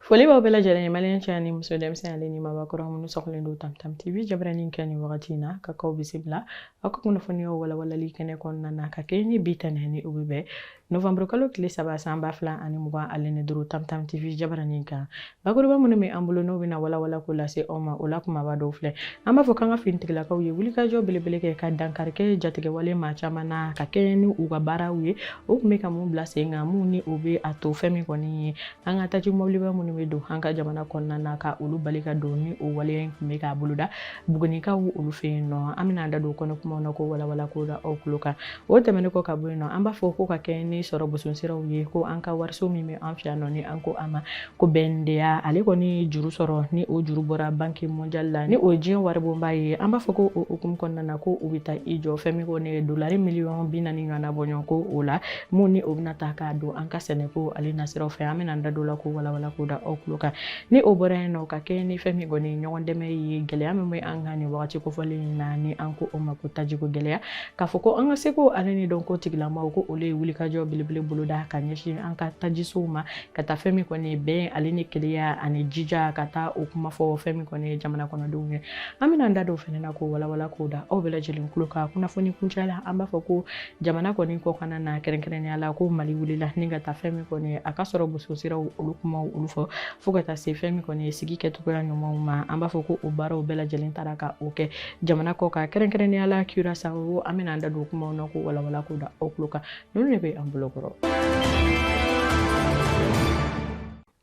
foli b'aw bɛɛ lajɛlen maliyɛn cɛ ani muso denmisɛn ale ni mabakɔrɔ minnu sɔgɔlen don tamtam tv jabarani kan nin wagati in na ka k'aw bisimila aw ka kunnafoniyaw walawalali kɛnɛ kɔnɔna na ka kɛɲɛ ni bi tɛnɛn ni o bɛ bɛn novanburu kalo tile saba san ba fila ani mugan ale ni duuru tamtam tv jabaranin kan bakuruba minnu bɛ an bolo n'o bɛna walawala k'o lase aw ma o la kumaba dɔw filɛ an b'a fɔ k'an ka finitigilakaw ye wulikajɔ belebele kɛ ka dankari kɛ jatigɛwale maa caman na ka kɛɲɛ ni u ka baaraw ye o tun bɛ ka mun bila sen kan mun ni o bɛ a to fɛn min kɔni ye an ka taji mɔbiliba minnu bɛ don an ka jamana kɔnɔna na ka olu bali ka don ni o waleya in tun bɛ k'a boloda bugunikaw olu fɛ yen nɔ an bɛna an da don kɔnɔ kumaw na k'o walawala k'o da aw tulo kan o tɛmɛnen kɔ ka bɔ yen nɔ an b'a fɔ ko ka kɛɲɛ ni sɔrɔ boson siraw ye ko an ka wariso min bɛ an fɛ yan nɔ ni an ko a ma ko BNDA ale kɔni juru sɔrɔ ni o juru bɔra banque mondiale la ni o ye diɲɛ waribonba ye an b'a fɔ ko o hukumu kɔnɔna na ko u bɛ taa i jɔ fɛn min kɔni dolari miliyɔn bi naani ɲɔgɔnna bɔɲɔgɔnko o la mun ni o bɛna ta k'a don an ka sɛnɛko ale nasiraw fɛ an bɛna an da don la k'o walawala k'o da aw tulo kan ni o bɔra yen nɔ ka kɛɲɛ ni fɛn min kɔni ɲɔgɔn dɛmɛ ye gɛlɛya min bɛ an kan nin wagati kofɔlen in na ni an ko o ma ko tajiko gɛlɛya k'a fɔ ko an ka seko ale ni dɔnko tigilamaw ko olu ye wulikajɔ belebele boloda ka ɲɛsin an ka tajisow ma ka taa fɛn min kɔni ye bɛn ale ni kelenya ani jija ka taa o kuma fɔ fɛn min kɔni ye jamana kɔnɔdenw ye an bɛna an da don o fana na k'o walawala k'o da aw bɛɛ lajɛlen tulo kan kunnafoni kuncɛ la an b'a fɔ ko jamana kɔni kɔkanna na kɛrɛnkɛrɛnnenya la ko mali wulila ni ka taa fɛn min kɔni ye a ka sɔrɔ boso siraw olu kumaw olu fɔ fo ka taa se fɛn min kɔni ye sigi kɛcogoya ɲumanw ma an b'a fɔ ko o baaraw bɛɛ lajɛlen taara ka o kɛ jamana kɔkan kɛrɛnkɛrɛnnenya la curaçao an bɛna an da don kumaw na k'o walawala k'o da aw tulo kan ninnu de bɛ an bolo kɔrɔ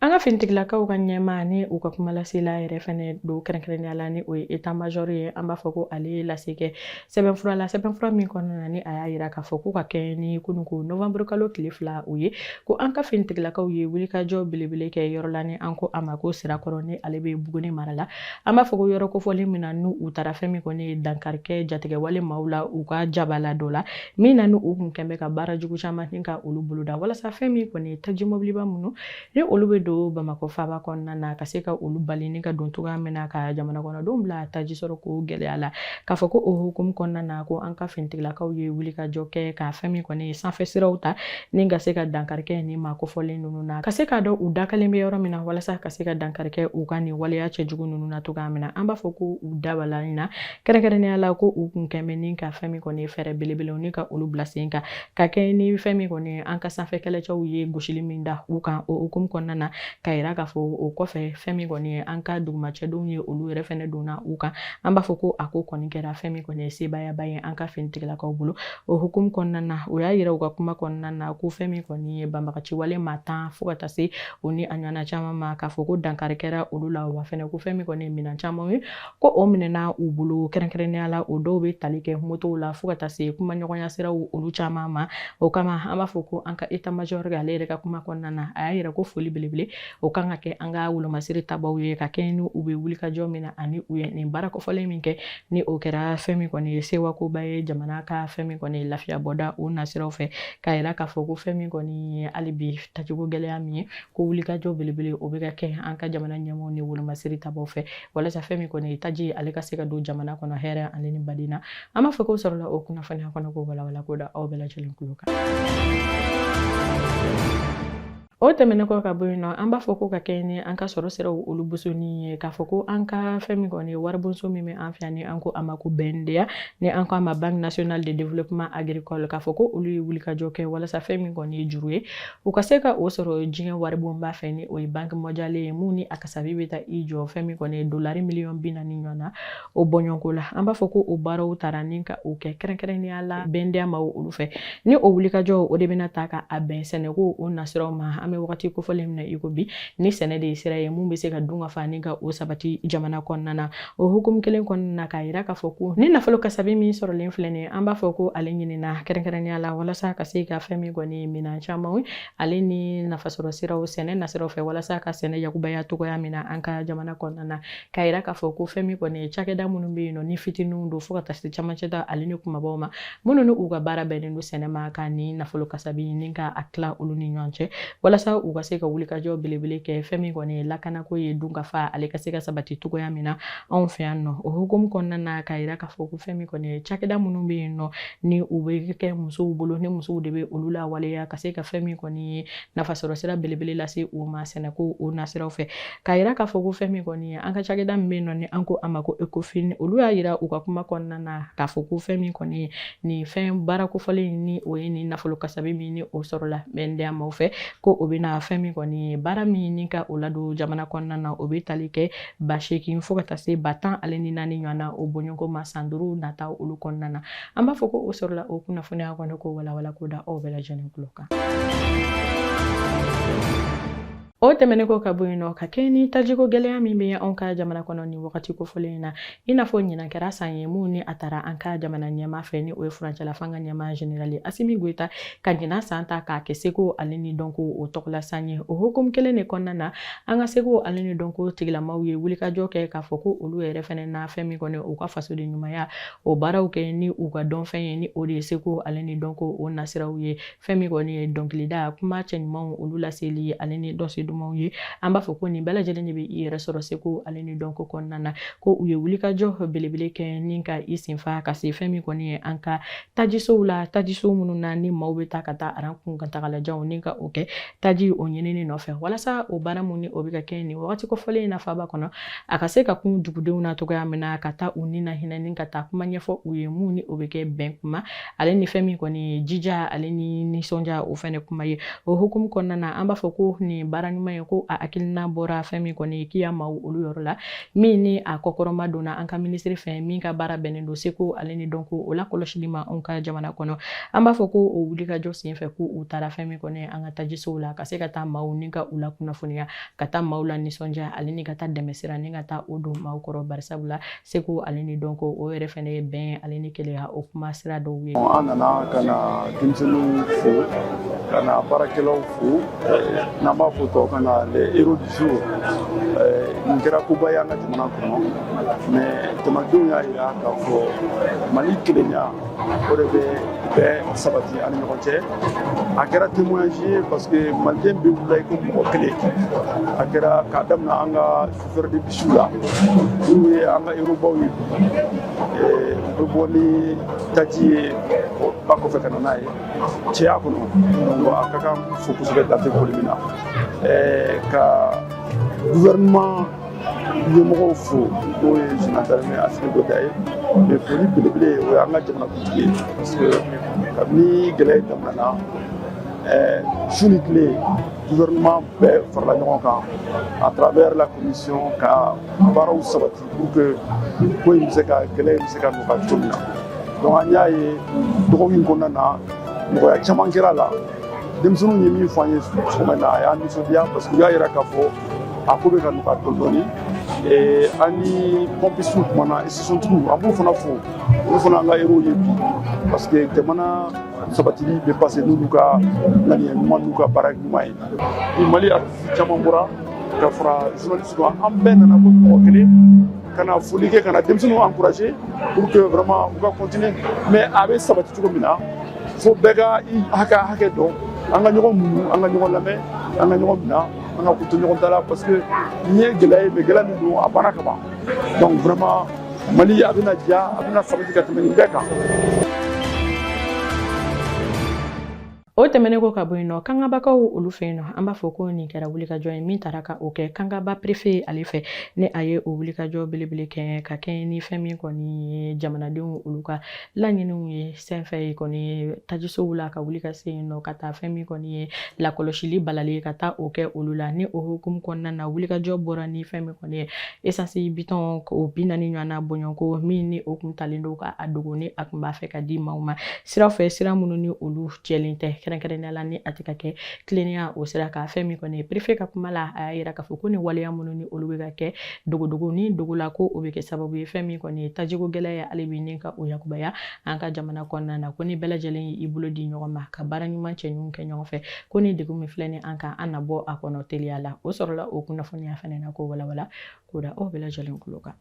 an ka finitigilakaw ka ɲɛmaa ni u ka kumalasela yɛrɛ fɛnɛ don kɛrɛnkɛrɛnnenya la ni o ye état major ye an b'a fɔ ko ale ye lase kɛ sɛbɛnfura la sɛbɛnfura min kɔnɔna na ni a y'a yira k'a fɔ ko ka kɛɲɛ ni kunu ko novembre kalo tile fila o ye ko an ka finitigilakaw ye wulikajɔ belebele kɛ yɔrɔ la ni an ko a ma ko sirakɔrɔ ni ale bɛ buguni mara la an b'a fɔ ko yɔrɔ kofɔlen min na n'u u taara fɛn min kɔni ye dankari kɛ jatigɛwale maaw la u ka jabala dɔ la min na ni u kun kɛlen bɛ ka baara jugu caman ni ka olu boloda walasa fɛn min kɔni ye taji mɔbiliba minnu ni olu bɛ don bamakɔ faaba kɔnɔna na ka se ka olu bali ni ka don cogoya min na ka jamana kɔnɔdenw bila taji sɔrɔ ko gɛlɛya la K'a fɔ ko o hukumu kɔnɔna na ko an ka finitigilakaw ye wulikajɔ kɛ ka fɛn min kɔni ye sanfɛ siraw ta ni ka se ka dankari kɛ ni maa kofɔlen ninnu na ka se k'a dɔn u dagalen bɛ yɔrɔ min na walasa ka se ka dankari kɛ u ka nin waleya cɛjugu ninnu na cogoya min na an b'a fɔ ko u dabala in na kɛrɛnkɛrɛnnenya la ko u kun kɛlen bɛ ni ka fɛn min kɔni ye fɛɛrɛ belebelew ni ka olu bila sen kan ka kɛɲɛ ni fɛn min kɔni ye an ka sanfɛ kɛlɛcɛw ye gosili min da u kan o hukumu kɔnɔna na k'a yira k'a fɔ o kɔfɛ fɛn min kɔni ye an ka duguma cɛdenw ye olu yɛrɛ fɛnɛ donna u kan an b'a fɔ ko a ko kɔni kɛra fɛn min kɔni ye sebaayaba ye an ka finitigilakaw bolo o hukumu kɔnɔna na o y'a yira u ka kuma kɔnɔna na ko fɛn min kɔni ye banbagaciwale maa tan fo ka taa se o ni a ɲɔgɔnna caman ma k'a fɔ ko dankari kɛra olu la wa fɛnɛ ko fɛn min kɔni ye minɛn caman ye ko o minɛna u bolo kɛrɛnkɛrɛnnenya la o dɔw bɛ tali kɛ motow la fo ka taa se kumaɲɔgɔnya siraw olu caman ma o kama an b'a fɔ ko an ka état major ale yɛrɛ ka kuma kɔnɔna na a y'a yira ko foli belebele o kan ka kɛ an ka wolomasiri tabaw ye ka kɛɲɛ ni u bɛ wulikajɔ min na ani u ye nin baara kofɔlen min kɛ ni o kɛra fɛn min kɔni ye sewakoba ye jamana ka fɛn min kɔni ye lafiya bɔda o nasiraw fɛ k'a yira k'a fɔ ko fɛn min kɔni ye hali bi tacogo gɛlɛya min ye ko wulikajɔ belebele o bɛ ka kɛ an ka jamana ɲɛmɔgɔw ni wolomasiri tabaw fɛ walasa fɛn min kɔni ye taji ale ka se ka don jamana kɔnɔ hɛrɛ ale ni badenya an b'a fɔ k'o sɔrɔla o kunnafoniya kɔni k'o walawala k'o da aw bɛɛ lajɛlen tulo kan o tɛmɛnen kɔ ka bɔ yen nɔ an b'a fɔ ko ka kɛɲɛ ni an ka sɔrɔ siraw olu bosonni ye k'a fɔ ko an ka fɛn min kɔni ye waribonso min bɛ an fɛ yan ni an ko a ma ko BNDA ni an ko a ma banque nationale de développement agricole k'a fɔ ko olu ye wulikajɔ kɛ walasa fɛn min kɔni ye juru ye u ka se ka o sɔrɔ diɲɛ waribonba fɛ ni o ye banque mondiale ye mun ni a kasabi bɛ taa i jɔ fɛn min kɔni ye dolari miliyɔn bi naani ɲɔgɔn na o bɔɲɔgɔnko la an b'a fɔ ko o baaraw tara ni ka o kɛ kɛrɛnkɛrɛnnenya la BNDA maa olu fɛ ni o wulikajɔ o de bɛna ta ka a bɛn sɛnɛko o nasiraw ma an bɛ wagati kofɔlen min na i ko bi ni sɛnɛ de ye sira ye mun bɛ se ka dunkafa ni ka o sabati jamana kɔnɔna na o hukumu kelen kɔnɔna na k'a yira k'a fɔ ko nin nafolo kasabi min sɔrɔlen filɛ nin ye an b'a fɔ ko ale ɲinina kɛrɛnkɛrɛnnenya la walasa ka se ka fɛn min kɔni ye minɛn camanw ale ni nafasɔrɔ siraw sɛnɛ nasiraw fɛ walasa ka sɛnɛ yakubaya cogoya min na an ka jamana kɔnɔna na k'a yira k'a fɔ ko fɛn min kɔni ye cakɛda minnu bɛ yen nɔ ni fitininw don fo ka taa se camancɛ ta ale ni kunbabaw ma minnu ni u ka baara bɛnnen don sɛnɛ ma ka nin nafolo kasabi ni ka a tila olu ni ɲɔgɔn cɛ walasa u ka se ka wulikajɔ belebele kɛ fɛn min kɔni ye lakanako ye dunkafa ale ka se ka sabati cogoya min na anw fɛ yan nɔ o hukumu kɔnɔna na k'a yira k'a fɔ ko fɛn min kɔni ye cakɛda minnu bɛ yen nɔ ni u bɛ kɛ musow bolo ni musow de bɛ olu lawaleya ka se ka fɛn min kɔni ye nafasɔrɔsira belebele lase u ma sɛnɛko o nasiraw fɛ k'a yira k'a fɔ ko fɛn min kɔni ye an ka cakɛda min bɛ yen nɔ ni an ko a ma ko Ecofin olu y'a yira u ka kuma kɔnɔna na k'a fɔ ko fɛn min kɔni ye nin fɛn baara kofɔlen ni o ye nin nafolo kasabi min ni o sɔrɔla BNDA maaw fɛ ko o bɛna fɛn min kɔni ye baara min ni ka o ladon jamana kɔnɔna na o bɛ tali kɛ ba seegin fo ka taa se ba tan ale ni naani ɲɔgɔn na o bɔɲɔgɔnko ma san duuru nata olu kɔnɔna na an b'a fɔ ko o sɔrɔla o kunnafoniya kɔni k'o walawala k'o da aw bɛɛ lajɛlen tulo kan O tɛmɛnen kɔ ka bɔ yen nɔ ka kɛɲɛ ni tajiko gɛlɛya min bɛ anw ka jamana kɔnɔ nin wagati kofɔlen in na i n'a fɔ ɲinan kɛra san ye min ni a tara an ka jamana ɲɛmaa fɛ ni o ye furancɛlafanga ɲɛmaa generali asimi goyita ka ɲinan san ta k'a kɛ seko ale ni dɔnko o tɔgɔla san ye o hukumu kelen de kɔnɔna na an ka seko ale ni dɔnko tigilamaw ye wulikajɔ kɛ k'a fɔ ko olu yɛrɛ fɛnɛ na fɛn min kɔni u ka fasodenɲumanya o baaraw kɛ ni u ka dɔnfɛn ye ni o de ye seko ale ni dɔnko o nasiraw ye fɛn min kɔni ye dɔnkilida kuma cɛɲumanw olu laseli ye ale ni dɔnsen dumanw ye an b'a fɔ ko nin bɛɛ lajɛlen de bɛ i yɛrɛ sɔrɔ seko ale ni dɔnko kɔnɔna na ko u ye wulikajɔ belebele kɛ ni ka i senfa ka se fɛn min kɔni ye an ka tajisow la tajiso minnu na ni maaw bɛ taa ka taa aran kuntagalajanw ni ka o kɛ taji o ɲinini nɔfɛ walasa o baara min ni o bɛ ka kɛ nin wagati kofɔlen in na faaba kɔnɔ a ka se ka kun dugudenw na cogoya min na ka taa u ni na hinɛ ni ka taa kuma ɲɛfɔ u ye min ni o bɛ kɛ bɛn kuma ale ni fɛn min kɔni ye jija ale ni nisɔndiya o fɛnɛ kuma ye o hukumu kɔnɔna na an b'a fɔ ko nin baara ɲuman ye ko a hakilina bɔra fɛn min kɔni kiya maaw olu yɔrɔ la min ni a kɔkɔrɔmadonna an ka minisiri fɛ min ka baara bɛnnen don seko ale ni dɔnko o lakɔlɔsili ma anw ka jamana kɔnɔ an b'a fɔ ko o wulikajɔ senfɛ ko u taara fɛn min kɔni an ka tajisow la ka se ka taa maaw ni ka u lakunnafoniya ka taa maaw lanisɔndiya ale ni ka taa dɛmɛsira ni ka taa o don maaw kɔrɔ barisabu la seko ale ni dɔnko o yɛrɛ fɛnɛ ye bɛn ale ni kelenya o kuma sira dɔw ye an nana ka na denmisɛnninw fo ka na baarakɛlaw fo n'an b'a fɔ tɔw kan na les héros du jour nin kɛra koba ye an ka jamana kɔnɔ mais jamanadenw y'a yira k'a fɔ mali kelenya o de bɛ bɛn sabati an ni ɲɔgɔn cɛ a kɛra témoignage ye parce que maliden bɛɛ wulila i ko mɔgɔ kelen a kɛra k'a daminɛ an ka chauffeur de bisiw la minnu ye an ka hérobaw ye u bɛ bɔ ni taji ye ba kɔfɛ ka na n'a ye cɛya kɔnɔ donc a ka kan fo kosɛbɛ dan tɛ foli min na ka gouvernement ɲɛmɔgɔw fo n'o ye général d'armée asimi goyita ye mais foli belebele o y'an ka jamanakuntigi ye parce que kabini gɛlɛya in daminɛna su ni tile gouvernement bɛɛ farala ɲɔgɔn kan à travers la commission ka baaraw sabati pour que ko in bɛ se ka gɛlɛya in bɛ se ka nɔgɔya cogo min na donc an y'a ye dɔgɔkun in kɔnɔna na nɔgɔya caman kɛra a la denmisɛnninw ye min fɔ an ye sɔgɔma in na a y'an nisɔndiya parce que u y'a yira k'a fɔ a ko bɛ ka nɔgɔya dɔɔni dɔɔni an ni pɔmpisiw kumana stationtigiw an b'u fana fo olu fana an ka hérow ye bi parce que jamana sabatili bɛ passer n'olu ka ŋaniya ɲuman n'u ka baara ɲuman ye bi mali artisi caman bɔra ka fara journaliste kan an bɛɛ nana ko mɔgɔ kelen ka na foli kɛ ka na denmisɛnninw encourager pour que vraiment u ka continuer mais a bɛ sabati cogo min na fo bɛɛ ka i hakɛ hakɛ dɔn an ka ɲɔgɔn muɲu an ka ɲɔgɔn lamɛn an ka ɲɔgɔn minɛ an ka koto ɲɔgɔn ta la parce que nin ye gɛlɛya ye mais gɛlɛya min don a banna ka ban donc vraiment mali a bɛna diya a bɛna sabati ka tɛmɛ nin bɛɛ kan O tɛmɛnen kɔ ka bɔ yen nɔ kangabakaw olu fɛ yen nɔ an b'a fɔ ko nin kɛra wulikajɔ ye min taara ka o kɛ kangaba perefe ale fɛ ni a ye o wulikajɔ belebele kɛ ka kɛɲɛ ni fɛn min kɔni ye jamanadenw olu ka laɲiniw ye senfɛ ye kɔni tajisow la ka wuli ka se yen nɔ ka taa fɛn min kɔni ye lakɔlɔsili balali ye ka taa o kɛ olu la ni o hukumu kɔnɔna na wulikajɔ bɔra ni fɛn min kɔni ye esansi bidɔn o bi naani ɲɔgɔnna bɔɲɔgɔnko min ni o kun talen don ka a dogo ni a kun b'a fɛ ka di maaw ma sira fɛ sira minnu ni olu jɛlen tɛ kɛrɛnkɛrɛnnenya la ni a tɛ ka kɛ tilennenya o sira kan fɛn min kɔni ye perefe ka kuma la a y'a yira k'a fɔ ko nin waleya minnu ni olu bɛ ka kɛ dogodogo ni dogo la ko o bɛ kɛ sababu ye fɛn min kɔni ye tajiko gɛlɛya ye hali bi ni ka o yakubaya an ka jamana kɔnɔna na ko ni bɛɛ lajɛlen y'i bolo di ɲɔgɔn ma ka baara ɲuman cɛ ɲuman kɛ ɲɔgɔn fɛ ko nin degun min filɛ ni an kan an na bɔ a kɔnɔ teliya la o sɔrɔla o kunnafoniya fana na k'o walawala k'o da aw bɛɛ lajɛlen tulo kan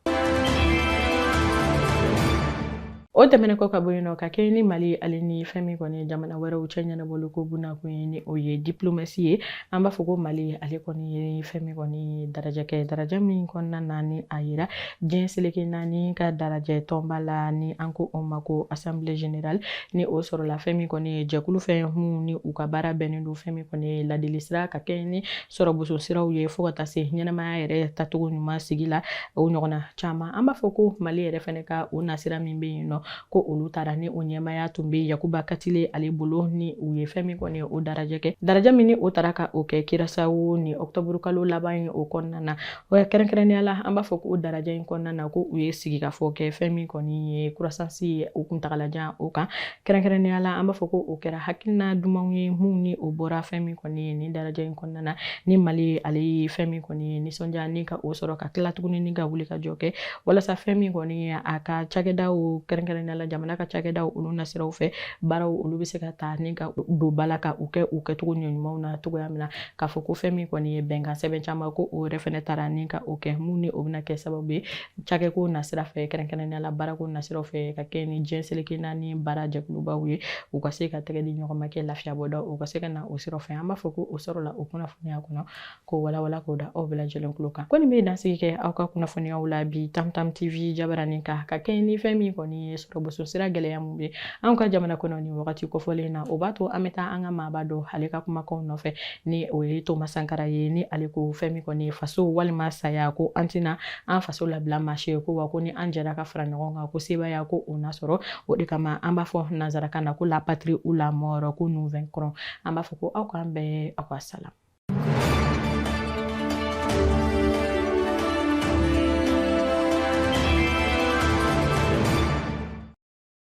o tɛmɛnen kɔ ka bɔ yen nɔ ka kɛɲɛ ni mali ale ni fɛn min kɔni ye jamana wɛrɛw cɛ ɲɛnabɔli ko bunakun ye ni o ye diplomasi ye an b'a fɔ ko mali ale kɔni ye fɛn min kɔni ye darajɛ kɛ darajɛ min kɔnɔna na ni a yira diɲɛ seleke naani ka darajɛ tɔnba la ni an ko o ma ko assemblée générale ni o sɔrɔla fɛn min kɔni ye jɛkulu fɛn mun ni u ka baara bɛnnen don fɛn min kɔni ye ladili sira ka kɛɲɛ ni sɔrɔboso siraw ye fo ka taa se ɲɛnamaya yɛrɛ tacogo ɲuman sigi la o ɲɔgɔnna caman an b'a fɔ ko mali yɛrɛ fɛnɛ ka o nasira min bɛ yen nɔ ko olu taara ni o ɲɛmaaya tun bɛ yakuba katile ale bolo ni u ye fɛn min kɔni o darajɛ kɛ darajɛ min ni o taara ka o kɛ kirasawo ni ɔktɔburu kalo laban ye o kɔnɔna na o kɛrɛnkɛrɛnnenya la an b'a fɔ ko o darajɛ in kɔnɔna na ko u ye sigikafɔ kɛ fɛn min kɔni ye croissance ye o kuntagalajan o kan kɛrɛnkɛrɛnnenya la an b'a fɔ ko o kɛra hakilina dumanw ye minnu ni o bɔra fɛn min kɔni ye nin darajɛ in kɔnɔna na ni mali ale ye fɛn min kɔni ye nisɔndiya ni ka o sɔrɔ ka tila tuguni ni ka wulikajɔ kɛ walasa fɛn min kɔni ye a ka cakɛdaw kɛrɛnkɛrɛnnenya la jamana ka cakɛdaw olu nasiraw fɛ baaraw olu bɛ se ka ta ni ka don ba la ka u kɛ u kɛcogo ɲumanw na cogoya min na k'a fɔ ko fɛn min kɔni ye bɛnkan sɛbɛn caman ko o yɛrɛ fɛnɛ taara ni ka o kɛ mun ni o bɛna kɛ sababu ye cakɛko nasira fɛ kɛrɛnkɛrɛnnenya la baarako nasiraw fɛ ka kɛ ni diɲɛ seleke naani baara jɛkulubaw ye u ka se ka tɛgɛ di ɲɔgɔn ma kɛ lafiya bɔda u ka se ka na o sira fɛ an b'a fɔ ko o sɔrɔla o kunnafoniya kɔnɔ k'o walawala k'o da aw bɛɛ lajɛlen tulo kan ko nin bɛ dansigi kɛ aw ka kunnafoniyaw la bi tamtam tv jabaranin kan ka kɛ ni fɛn min kɔni ye sɔrɔboso sira gɛlɛya mun bɛ anw ka jamana kɔnɔ nin wagati kofɔlen na o b'a to an bɛ taa an ka maaba dɔ ale ka kumakanw nɔfɛ ni o ye toma sankara ye ni ale ko fɛn min kɔni ye faso walima saya ko an tɛna an faso labila maa si ye ko wa ko ni an jɛra ka fara ɲɔgɔn kan ko sebaaya ko o na sɔrɔ o de kama an b'a fɔ nanzarakan na ko la patrie ou la mort ko nous vaincrons an b'a fɔ ko aw k'an bɛn aw ka salam